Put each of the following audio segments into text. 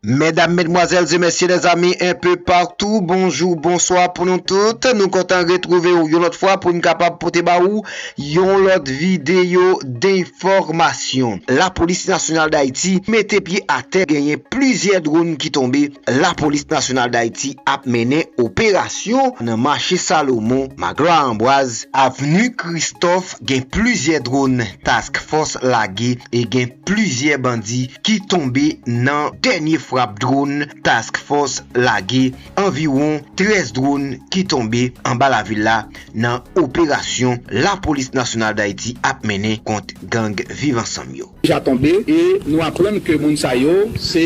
Medam, medmwazèl e mesye, lèzanmi enpe patou, bonjou, bonswa pou nou tout. Nou kontan retwouve ou yon lòt fwa pou n kapab pote ba ou yon lòt videyo denfòmasyon. Lapolis Nasyonal Dayiti mete pye atè genyen plizyè dronn ki tonbe. Lapolis Nasyonal Dayiti ap mennen operasyon nan mache Salomon, Magloire Ambroise, avni Kristòf gen plizyè dronn task fòs lage e gen. Plizyè bandi ki tonbe nan dènye frap dronn Task Force lage, anviwon 13 dronn ki tonbe anba lavil la nan operasyon Lapolis Nasyonal Dayiti ap mennen kont gang Viv Ansanm yo. Deja tonbe e nou aprann ke moun sa yo se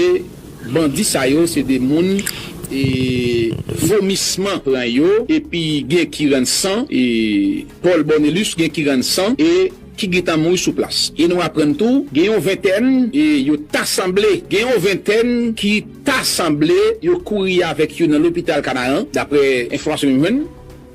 bandi sa yo se de moun e vomisman pran yo epi gen ki rann san e Paul Bornelus gen ki rann san e. ki gentan mouri sou plas. E nou aprann tou gen yon ventèn e yo ta sanble gen yon ventèn ki ta sanble yo kouri avèk yo nan lopital Kanaran, daprè enfòmasyon m jwenn,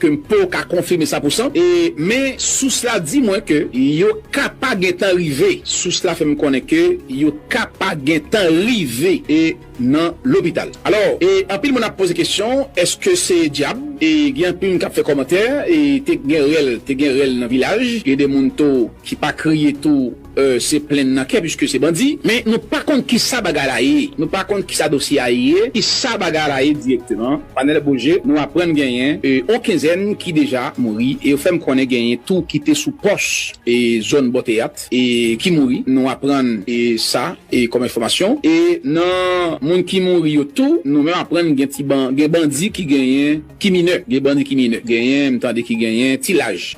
ke m po ka konfime san pou san, e men sous la di mwen ke yo ka pa gentan rive, sous la fè m konnen ke yo ka pa gentan rive, e. nan lopital alò e anpil moun ap poze kesyon eske se dyab e gen anpil moun kap fè kòmantè e te gen rèl te gen rèl nan vilaj gen de moun to ki pa kriye tou se plenn nan kè piske se bandi men nou pa konn kisa bagay la ye nou pa konn kisa dosye a ye kisa bagay la ye direkteman panèl boje nou aprann genyen on kenzèn ki deja mouri e yo fèm konnen genyen tou ki te sou pòs e zòn bò teyat e ki mouri nou aprann sa. E kòm enfòmasyon e nan moun ki mouri yo tou nou menm aprann gen ti ban gen bandi ki genyen ki minè gen bandi ki minè genyen m tande ki genyen ti laj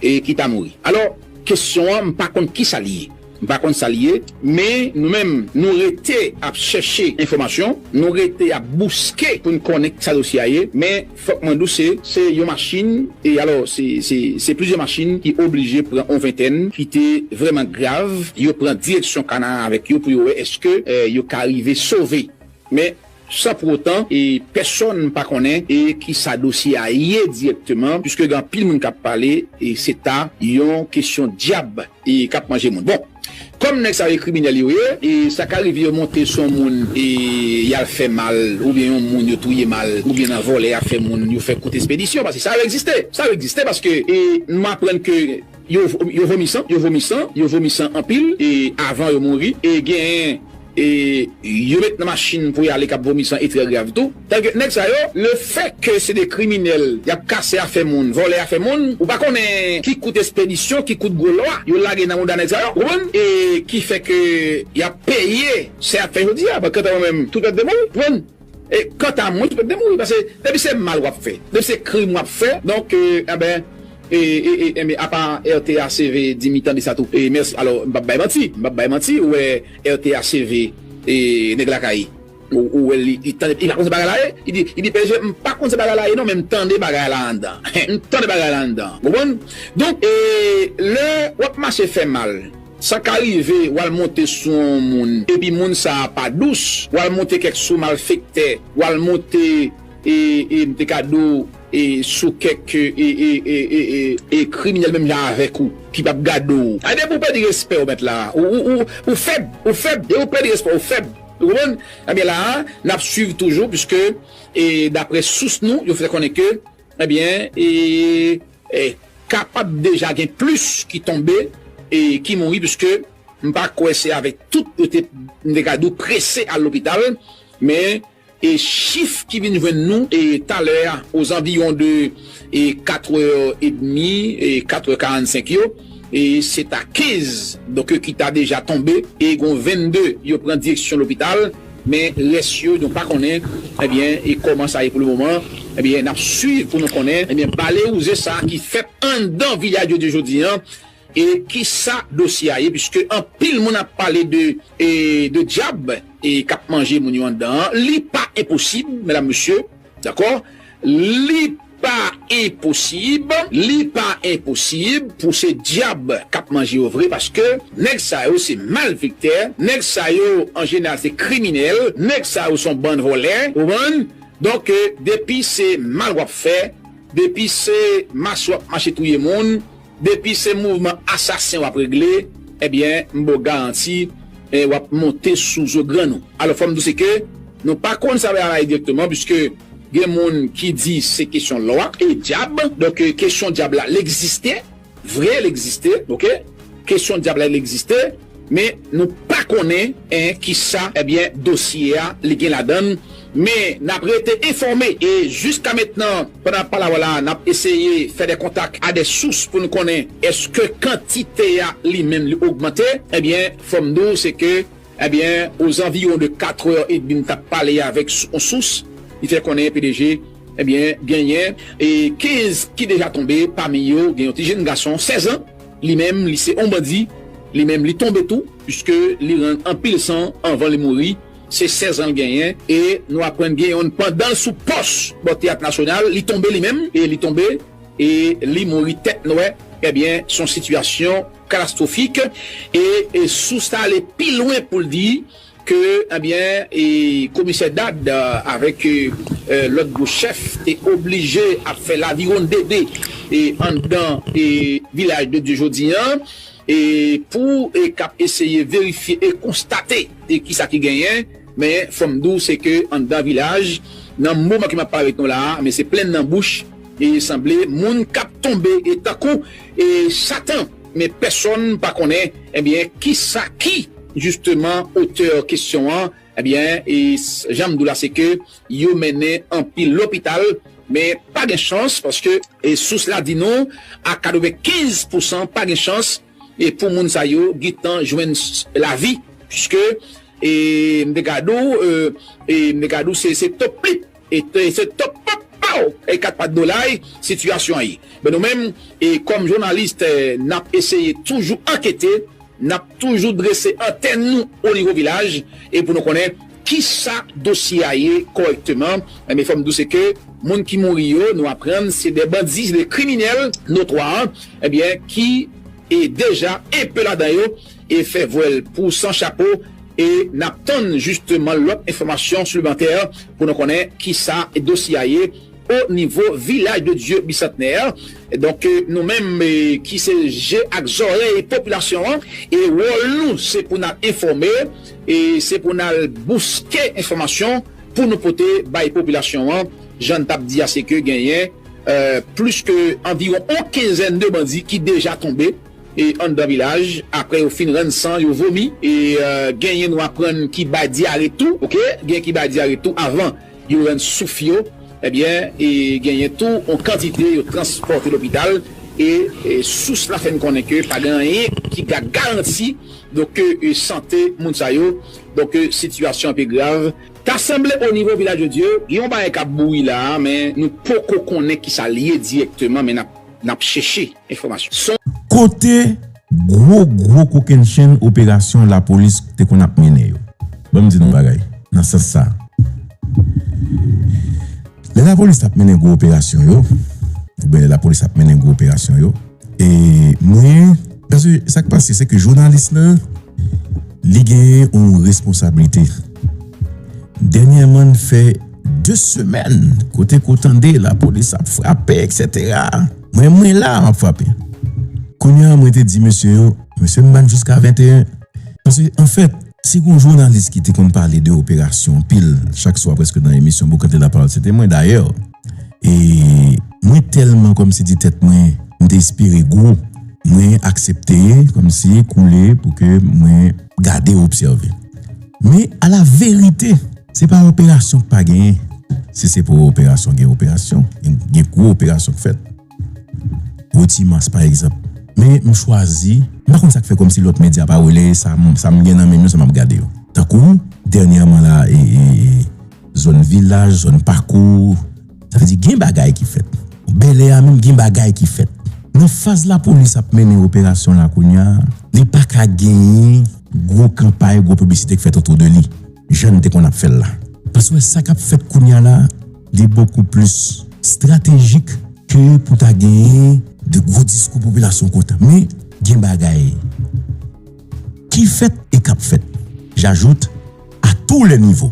e ki ta mouri alò kesyon an m pa konn kisa li ye m pa konn sa li ye men nou menm nou rete ap chèche enfòmasyon nou rete ap bouske pou n konnen kisa dosye a ye men Fòk mwen di w se se yon machin e alò se se se plizyè machin ki oblije pran on ventèn ki te vrèman grav yo pran direksyon kana a avèk yo pou yo wè eske yo ka rive sove men san pou otan e pèsòn pa konnen e ki sa dosye a ye dirèkteman piske gen anpil moun k ap pale e se ta yon kesyon dyab. e kap manje moun bon kòm nèg sa yo e kriminèl yo ye e sa ka rive yo monte sou yon moun e yal fè mal oubyen yon moun yo touye mal oubyen nan vòlè yap fè moun yo fè kout espedisyon paske sa yo egziste sa yo egziste paske e nou aprann ke yo vomi san yo vomi san yo vomi san anpil e avan yo mouri e gen e yo met nan machin pou y ale k ap vomi san e trè grav tou tank nèg sa yo lefèt ke se de kriminèl y ap kase afè moun vòlè afè moun ou pa konnen ki kout espedisyon ki kout gwo lwa yo lage nan mouda nèg sa yo ou konprann e ki fè ke y ap peye sa y ap fè jodi a pankanta mwen menm tout mèt de mwen wi ou konprann. E kanta mwen, mwen mouri pase depi se mal wap fè, depi se krim wap fè donk enben e e enben apa RTHCV dim li tande sa tou e mèsi alò m pap bay manti, m pap bay manti ou wè RTHCV e nèg lakay ou wèl li li tande li pa konn se bagay la ye li di li di pè je m pa konn se bagay la ye non men m tande bagay la anndan m tande bagay la anndan ou konprann donk e lè wap mache fè mal Sa ka rive w al monte sou yon moun epi moun sa a pa dous, w al monte kèk sou malfektè, w al monte e e m te ka di w e sou kèk e e e e e e e kriminèl menm jan avèk ou ki p ap gade w. A depi w pèdi respè w mèt la a ou ou ou fèb, ou fèb, depi w pèdi respè w ou fèb. Ou konprann? Ebyen la a n ap swiv toujou piske e daprè sous nou yo fè konnen ke. Ebyen e kapab deja gen plis ki tonbe e ki mouri pske m pa kwè se avèk tout yo te m te ka di w prese al lopital men e chif ki vin jwenn nou e talè a ozanviwon de e katrè edmi e katrè karannsenk yo e se ta kenz donk ki ta deja tonbe e gon vennde yo pran direksyon lopital. Men rès yo nou pa konnen ebyen e kòman sa ye pou le moman ebyen nap swiv pou nou konnen ebyen balewouze sa ki fèt anndan Villaggio de jodi an e kisa dosye a ye piske anpil moun ap pale de e de dyab e kap manje moun yo anndan an li pa enposib medam mesye Dakò? Li pa enposib, li pa enposib pou se dyab k ap manje yo vre paske nèg sa yo se malfektè, nèg sa yo an jeneral se kriminèl, nèg sa yo se yon bann vòlè, ou konprann? Donk depi se mal w ap fè, depi se mas w ap mache touye moun, Depi se mouvman asasen wap regle ebyen m baw garanti wap monte sou zo grann ou. Alò fòm diw se ke nou pa konn sa bagay la ye direkteman puiske gen moun ki di se kesyon lwa e dyab donk kesyon dyab la l egziste vre l egziste ok kesyon dyab la l egziste. Men nou pa konnen en kisa ebyen dosye a li gen ladann men nap rete enfòme e jiskamentnan pandan nap pale a w la nap eseye fè de kontak a de sous pou nou konnen eske kantite a li menm li ogmante ebyen fòm di w se ke ebyen ozanviwon de 4 è edmi m tap pale avèk on sous li fè konnen pdg ebyen genyen 15 ki deja tonbe pami yo gen yon ti jenn gason 16 an. Li menm li se on bandi, li menm li tonbe tou puiske li rann anpil san anvan li mouri, se 16 an l genyen e nou aprann gen yonn pandan l sou pòs bò teyat nasyonal li tonbe li menm e li tonbe e li mouri tèt nwè ebyen son sitiyasyon katastrofik e sous ta ale pi lwen pou l di. ke ebyen komisè Dad avèk lòt gwo chèf te oblije ap fè lavirondede anndan Vilaj de Dye jodi an pou k ap eseye verifye e konstate kisa ki genyen men fò m di w se ke anndan Vilaj nan moman ke m ap pale ak nou la a men se plenn nan bouch e sanble moun k ap tonbe tankou satan. Men pèsonn pa konnen ebyen kisa ki jisteman otè kesyon an ebyen e jan m di w la se ke yo mennen anpil lopital men pa gen chans paske e sous la di nou a 95 pousan pa gen chans e pou moun sa yo gen tan jwenn lavi piske e m te gade w e m te gade w se se to plip. Ete se top pop pow e 4 pat dolay sitiyasyon an ye men nou menm e kòm journalist nap eseye toujou ankete nap toujou drese antèn nou o nivo vilaj e pou nou konnen kisa dosye a ye kòrèkteman men fòm diw se ke moun ki mouri yo nou aprann se de bandi se de kriminèl notwa ebyen ki e deja enpe ladan yo e fè vwèl pou san chapo E nap tann jisteman lòt enfòmasyon siplemantè pou nou konnen kisa dosye a ye o nivo Vilaj de Dye Bisantnè. Donk nou menm ki se je ak zòrèy popilasyon an e wòl nou se pou nal enfòme, se pou nal bouske enfòmasyon pou nou pote bay popilasyon an. Jan n tap di a se ke genyen plis ke anviwon on kenzèn de bandi ki deja tonbe. anndan vilaj aprè yo fin rann san yo vomi e genyen nou aprann ki bay dyare tou ok genyen ki bay dyare tou avan yo rann souf yo ebyen e genyen tou on kantite yo transpòte lopital e sous la fè n konnen ke pa gen anyen ki ga garanti donk e sante moun sa yo donk e sitiyasyon an pi grav. Ta sanble o nivo vilaj de dye gen yon bagay kap bouyi la men nou poko konnen kisa liye dirèkteman men nap. Nap chèche enfòmasyon sou. Kote gwo gwo kokennchenn operasyon lapolis te konn ap mennen yo? Ban m di nou yon bagay nan sans sa a. Lè lapolis ap mennen gwo operasyon yo, oubyen lè lapolis ap mennen gwo operasyon yo, e mwen. Paske sa k pase se ke jounalis la, li gen yon responsablite. Dènyèman n fè. 2 semèn kote ke w tande lapolis ap frape eksetera mwen mwen la map frape kounye a mwen te di mesye yo mesye m ban jiska 21 paske anfèt si gon jounalis ki te konn pale de operasyon anpil chak swa preske nan emisyon boukante lapawòl se te mwen dayè e mwen tèlman kòmsi di tèt mwen m te espere gwo mwen aksepte kòmsi koule pou ke mwen gade obsève men ala verite. Se pa operasyon k pa genyen, si se pou operasyon gen operasyon, gen gwo operasyon k fèt pou ti mas pa egzanp men m chwazi. M pa konn sa k fè kòmsi lòt medya pa releye sa m gen nan men m yo sa m ap gade yo tankou dènyèman la e zòn vilaj, zòn pakou. Sa vle di gen bagay ki fèt. Bèlè a menm gen bagay ki fèt. Nan faz lapolis ap mennen operasyon la kounya, li pa ka genyen gwo kanpay, gwo piblisite k fèt otou de li, jan n te konn ap fè l la. Paswè sa k ap fèt kounya la, li bokou plis stratejik ke pou ta genyen de gwo diskou popilasyon kontan. Men, gen bagay ki fèt e k ap fèt, j'ajoute, a tou lè nivo.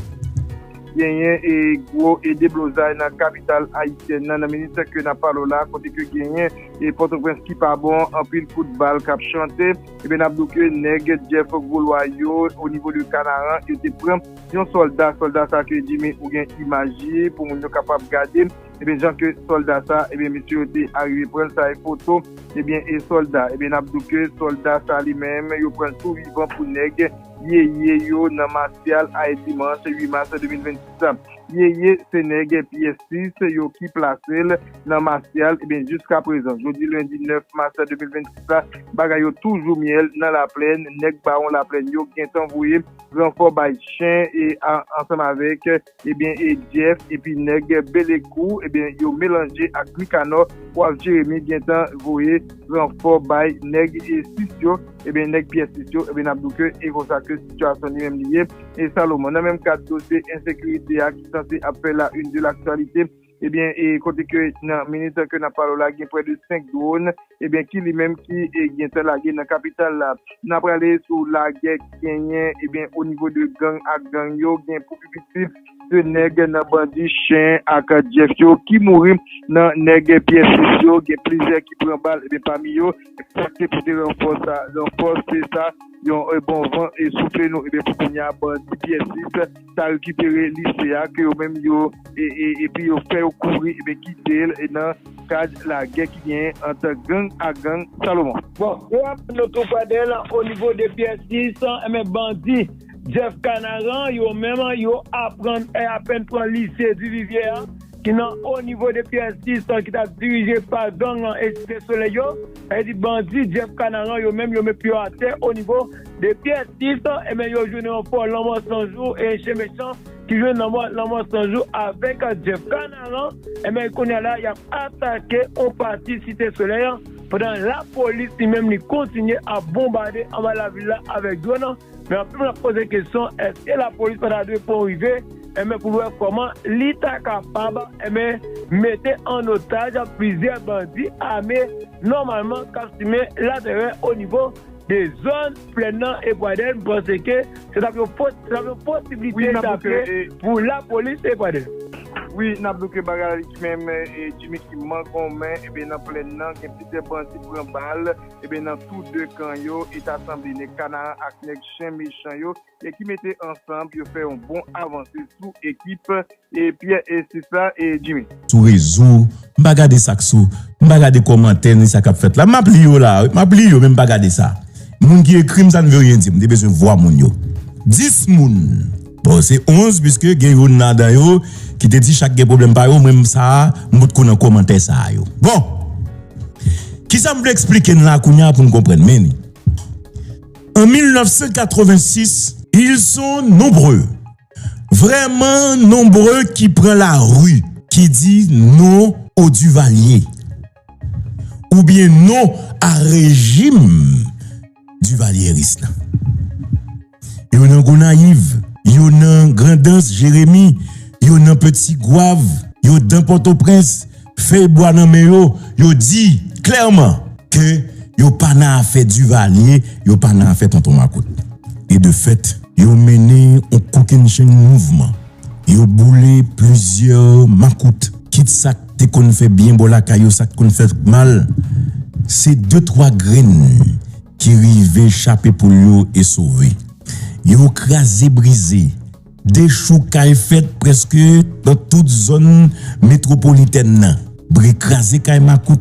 Genyen e gwo e deblozay nan kapital ayisyèn nan, nan minit ke nap pale w la, kote ke genyen e Pòtoprens ki pa bon, anpil kout bal kap chante, ebyen nap di w ke nèg Jeff Grolwa yo o nivo de Kanaran, yo te pran yon sòlda, sòlda sa ke Jimmy ou gen imaj li, pou moun yo kapab gade, ebyen jan ke sòlda sa, ebyen mesye yo te arive pran l, sa e foto, ebyen e sòlda, ebyen nap di w ke sòlda sa li menm yo pran l tou vivan pou nèg. Yeye yo nan Masyal Ay Dimanch 8 Mas 2026 la. Yeye se nèg pyès 6 yo ki plase l nan Masyal ebyen jiskaprezan jodi lendi 9 mas 2026 la bagay yo toujou myèl nan laplèn nèg bawon laplèn yo gentan voye ranfò bay chen e ansanm avèk Ebyen e Jeff epi nèg Belekou ebyen yo melanje ak Nicanor waf Jeremie gentan voye ranfò bay nèg 6 yo ebyen nèg pyè 6 yo ebyen nap diw ke e konsa ke sitiyasyon li menm li ye e Salomon nan menm kad dosye ensekirite a ki sanse ap fè la une de l'actualité. Ebyen e kote ke nan minit ke nap pale w la gen prè de 5 drone ebyen ki li menm ki gentè lage nan kapital la. Na prale sou lagè ki genyen ebyen o nivo de gang ak gang yo gen pou pi piti 2 nèg nan bandi chen ak jeff yo ki mouri nan nèg pyè sis yo gen plizyè ki pran bal ebyen pami yo sak te pote ranfò sa ranfò se sa yon bon van e soufle nou ebyen pou kounya bandi pyè sis ta rekipere lise a ke yo menm yo epi yo fè yo kouri ebyen kite l nan kad lagè ki genyen ant gang ak gang Salomon. Bon yo aprann nou tou prè de l onivo de pyè 6 ebyen bandi Jeff Canaran yo menm yo aprann e apèn pran lise Duvivier a ki nan onivo de pyè 6 ki ta dirije pa gang e site solèy yo. Sa di bandi Jeff Canaran yo menm yo met pye yo atè o nivo de Pierre Six e ben yo jwenn yon fo lanmò san jou e chen mechan ki jwenn lanmò lanmò san jou avek Jeff Canaran e ben kounya la yap atake on pati site soley pandan lapolis li menm li kontinye ap bonbade anba lavil la avek dwòn. Men anpil moun ap poze kesyon eske lapolis pa ta dwe pran yon rive enben pou l wè kòman li ta kapab enben mete an otaj plizyè bandi ame nòmalman k ap simen latèrè onivo de zòn plèn nan e Pradèl m panse ke se t ap yon posiblite tape pou lapolis e Pradèl. Wi n ap bouke bagay la li di menm Djimi ki mangonmen enben nan plèn nan gen plizyè bandi pran bal. Ebyen nan tou 2 kan yo e ta sanble nèg kanaran ak nèg chen mechan yo e ki mete ansanb yo fè yon bon avanse sou ekip e Pierre e Steve la e Jimmy. Sou rezo, m pa gade sak sou, m pa gade komantè ni sa kap fèt la, map li yo la wi, map li yo men m pa gade sa, moun ki ekrim sa n ve ryen di m te bezwen vwa moun yo, 10 moun. Bon se 11 puiske gen youn ladan yo ki te di chak gen pwoblèm pa yo mwen m sa a m bout kou nan komantè sa yo bon kisa m vle eksplike n la kounye a pou n konprann men li an 1986 il son nonbre vrèman nonbre ki pran lari ki di non o Duvalier oubyen non a rejim Duvalierisme. Yo nan Gonayiv, yo nan Grandans, Jeremi, yo nan Peti Gwav, yo dan Pòtoprens, fèy bwa nan men yo, yo di klèman ke yo pa nan afè Divalye, yo pa nan afè Tonton Makout. E de fèt, yo mennen yon kokennchenn mouvman. Yo boule plizyè makout, kit sa k te konn fè byen bò lakay yo, sa k konn fè mal, se de twa grenn ki rive chape poul yo e sove. Yo kraze brize, dechoukay fèt prèske nan tout zòn metwopolitèn nan, bri kraze kay makout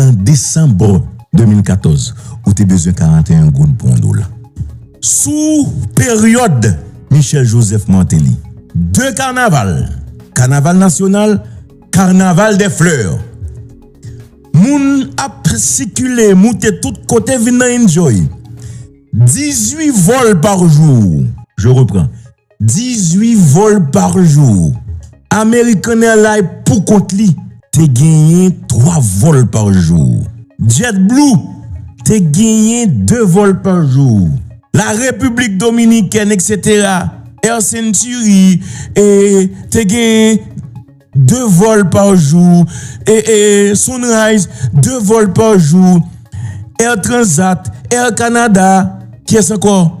An desanm 2014, ou te bezwen 41 goud pou yon dola. Sou peryòd Michel Joseph Martelly, 2 kanaval, kanaval nasyonal, carnaval des fleurs, moun ap sikile, moute tout kote vin nan enjoy. 18 vòl par jour. Je reprends. 18 vòl par jou. American Airlines pou kont li te genyen 3 vòl par jou. JetBlue te genyen 2 vòl par jou. La République Dominicaine etc. Air Century e te genyen 2 vòl par jou e e Sunrise 2 vòl par jou. Air Transat, Air Canada, kiyès ankò?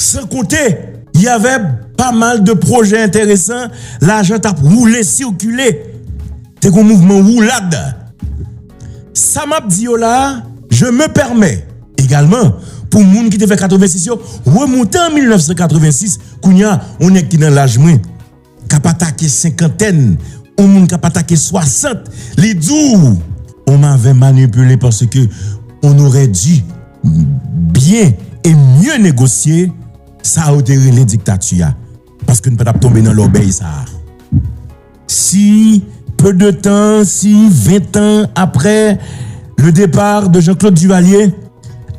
San konte, y avè pa mal de pwojè enteresan, lajan t ap woule sikile, te gon mouvman woulad. Sa m ap di yo la a, je me pèmè, egalman, pou moun ki te fè 86 yo, remonte an 1986, kounye a, yon nèg ki nan laj mwen, k ap atake senkantèn, yon moun k ap atake swasant, li di w, ou m avè manipile paske ou n orè di byen e mye negosye sa yo te rele diktati a, paske n pa t ap tonbe nan lòbèy sa a. Si peu de tan, si 20 tan aprè le depart de Jean-Claude Duvalier,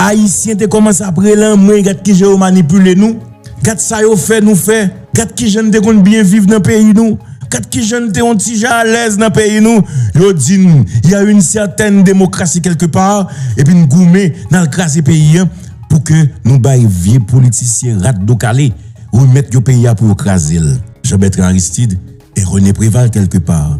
Ayisyen te kòmanse ap rele anmwey gad kijan yo manipile nou, gad sa yo fè nou fè, gad kijan n te konn byen viv nan peyi nou, gad kijan n te yon ti jan alèz nan peyi nou, yo di n y a une certaine démocratie quelque part epi n goumen n al kraze peyi an pou ke nou bay vye politisyen rat do kale remèt yo peyi a pou yo kraze l. Jean Bertrand Aristide et René Préval quelque part.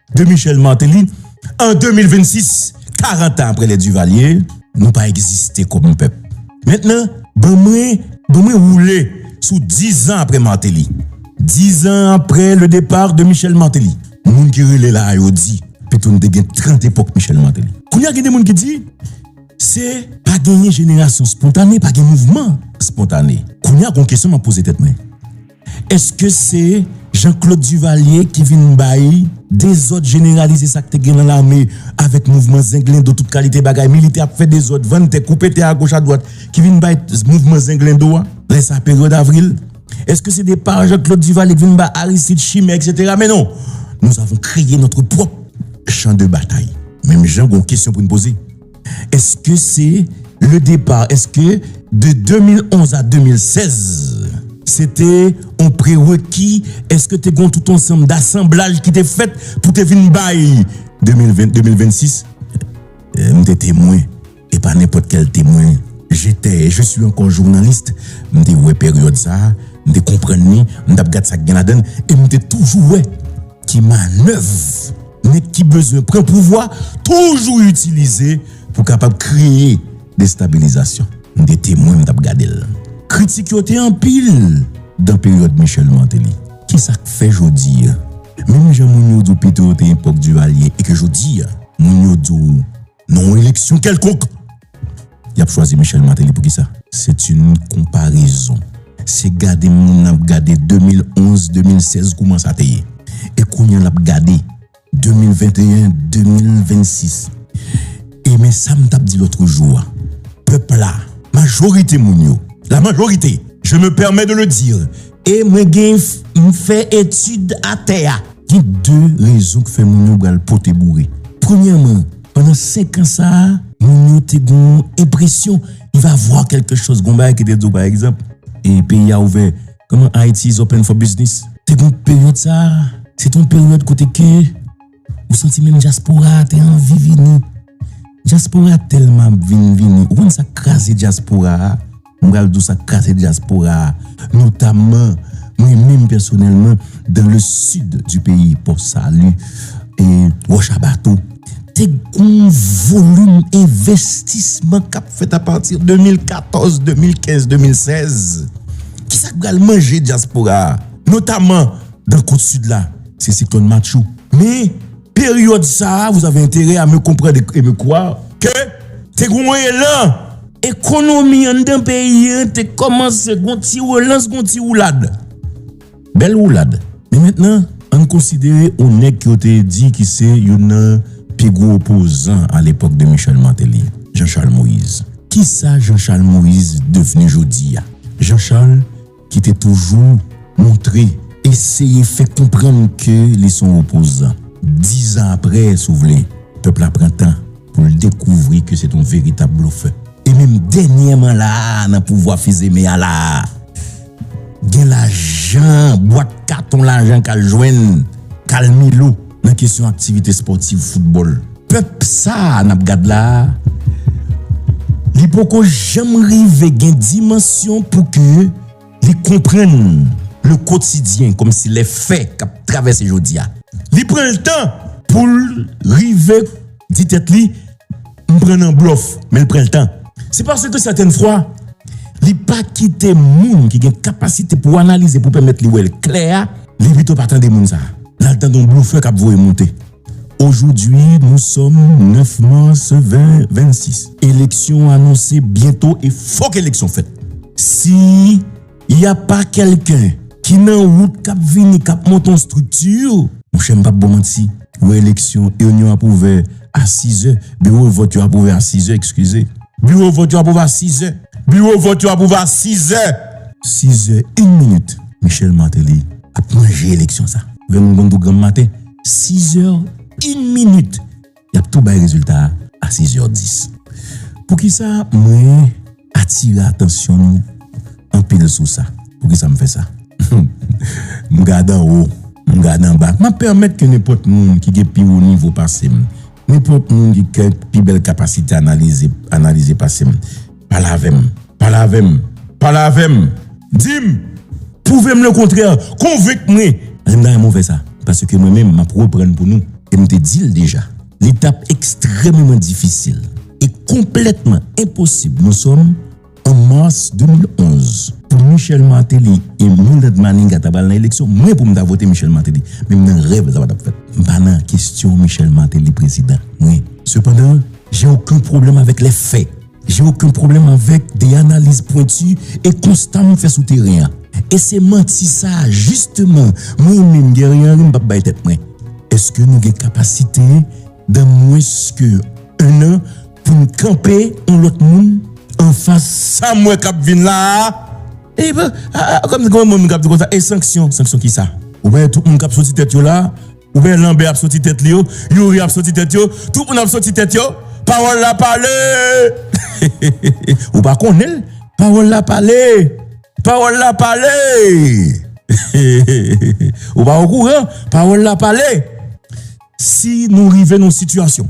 de Michel Martelly an 2026 40 an aprè lè Duvalier nou pa egziste kòm pèp mentnan ban mwen ban mwen woule sou 10 zan aprè Martelly 10 zan aprè le depart de Michel Martelly moun ki rele la a yo di pito nou te gen 30 epòk Michel Martelly kounye a gen de moun ki di se pa genyen jenerasyon spontane pa gen mouvman spontane kounye a gon kesyon map poze tèt mwen. Eske se Jean Claude Duvalier ki vin bay dezòd jeneralize sa k te gen nan lame avèk mouvman zenglendo tout kalite bagay militè ap fè dezòd vann tè koupe tè agoch adwat ki vin bay mouvman zenglendo a lè sa peryòd avril eske se de pa Jean Claude Duvalier ki vin bay Aristide chimè eksetera men non nous avons kreye notre pwòp chan de batay menm jan gon kesyon pou n poze. Eske se le depart eske de 2011 a 2016 se te yon prereki eske te gon tout yon sanm dasanblaj ki te fèt pou te vin bay 2020 2026 m te temwen e pa nenpòt kèl temwen je te je suis ankò journalist m te wè peryòd sa m te konprann ni m t ap gad sa k gen ladann e m te toujou wè ki manèv. Nèg ki bezwen pran pouvwa toujou itilize pou kapab kreye destabilizasyon. M te temwen m t ap gade l. Kritik yo te anpil dan peryòd Michel Martelly. Ki sa k fè jodi a, menm jan moun yo di w Petro te epòk Duvalier e ke jodi a moun yo di w. Nan yon eleksyon kèlkonk, y ap chwazi Michel Martelly. Poukisa? Se t yn konparezon. Se gade moun nan ap gade 2011, 2016 kouman sa te ye. E kounye l ap gade 2021, 2026. E men sa m t ap di lòtrejou a, pèp la, majorite moun yo, la majorite, je me permets de le dire, E mwen gen m fè etid atè a. Gen de rezon k fè moun yo pral pote boure. Premyèman, pandan senk an sa a, moun yo te gen yon enpresyon il va voir quelque chose gen yon bagay ki te di w pa egzanp, e peyi a ouvè kòman Haiti is open for business. Te gen yon peryòd sa a, se te yon peryòd kote ke. Ou santi menm dyaspora a te anvi vini. Dyaspora tèlman ap vin vini. Ou konn sa k kraze dyaspora a? M pral di w sa k kraze dyaspora a. Notamman, mwen menm pèsonèlman, dan le sid di peyi, Pò Sali, e Wòch a Bato, te gon yon volim envestisman k ap fèt apati 2014, 2015, 2016. Ki sa k pral manje dyaspora a? Notamman, dan kot sid la. Se siklòn Matthew. Men, peryòd sa a, vous avez intérêt à me comprendre et me croire que, te gen yon elan. Ekonomi anndan peyi an te kòmanse gen yon ti relans, gen yon ti woulad. Bèl woulad. Men mentnan, ann konsidere yon nèg ke yo te di ki se youn nan pi gwo opozan a lepòk de Michel Martelly, Jean Charles Moïse. Kisa Jean Charles Moïse devni jodi a? Jean Charles ki te toujou montre, eseye fè konprann ke li s on opozan. Dizan apre, si w vle, pèp la pran tan pou l dekouvri ke se t on veritab blofè. E menm dènyèman la a, nan pouvwa Fils-Aimé a la a, gen lajan, bwat katon lajan k al jwenn Carl Milo. nan kesyon aktivite spòtiv foutbòl. Pèp sa a n ap gad la a, li poko janm rive gen dimansyon pou ke li konprann le quotidien kòm si lè fè k ap travèse jodi a. Li pran l tan pou l rive di tèt li. M pran nan blòf, men l pran l tan. Se paske sètèn fwa, li pa kite moun ki gen kapasite pou analize, pou pèmèt li wè l klè a, li pito pa tande moun sa a. L al tande yon blofè k ap voye monte. Ojodwi nou sòm 9 mas 2026. Eleksyon anonse byento e fòk eleksyon fèt. Si. Ya pa kelken ki nan wout kap vini kap monte yon strikti. Monchè m pap baw manti, yo eleksyon eunyon ap ouvè a sizè, biwo vòt yo ap ouvè a sizè ekskize. Biwo vòt yo ap ouvè a sizè. Biwo vòt yo ap ouvè a sizè. Sizè yn minit Michel Martelly ap manje eleksyon sa. Vènn konn tou granm maten. Sizè yn minit. y ap tou bay rezilta a a sizè dis. Poukisa mwen atire atansyon nou anpil sou sa? Poukisa m fè sa? M gad anwo, m gad anba, m ap pèmèt ke nenpòt moun ki gen pi wo nivo pase m, nenpòt moun ki gen pi bèl kapasite analize analize pase m, Pale avè m! Pale avè m! Pale avè m! Di m! Pwouve m lekontrè! Konvenk mwen! Lè m ta renmen w fè sa. Paske mwen menm, m ap reprann pou nou. E m te di l deja. Li t ap ekstrèmeman difisil e konplètman enposib nou sòm an mas 2011. Pou Michel Martelly e Mildred Manigat ta pral nan eleksyon, mwen pou m ta vote Michel Martelly. Menm nan rèv mwen sa pa t ap fèt. M pa nan kesyon Michel Martelly prezidan. Mwen. Sepandan, jen oken pwoblèm avèk lè fè. J'ai aucun problème avèk de analiz pwenti e konsta m fè sou teren an. E se manti sa jisteman mwen menm Guerrier Henry m p ap bay tèt mwen. Eske nou gen kapasite dan mwens ke 1 an pou n kanpe on lòt moun anfas sa m wè k ap vin la a? E kòm gen on moun k ap di konsa, e sanksyon? Sanksyon kisa? Ou pa wè tout moun k ap soti tèt yo la a? Ou wè lanbè ap soti tèt li yo, youri ap soti tèt yo, tout moun ap soti tèt yo, pawòl la pale! Ou pa konnen l? Pawòl la pale! Pawòl la pale! Ou pa okouran? Pawòl la pale! Si nou rive nan yon sitiyasyon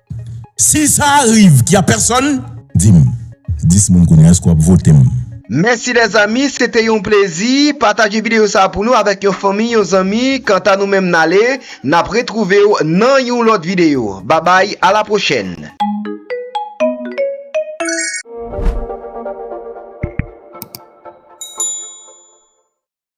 Si sa riv ki a pèsòn dim 10 moun kounya eske wap votem. Mèsi lèzami se te yon plezi pataje video sa pou nou avèk yon fanmi yon zanmi kanta nou menm nale nap retrouvew nan yon lòt video babay a la pwochèn.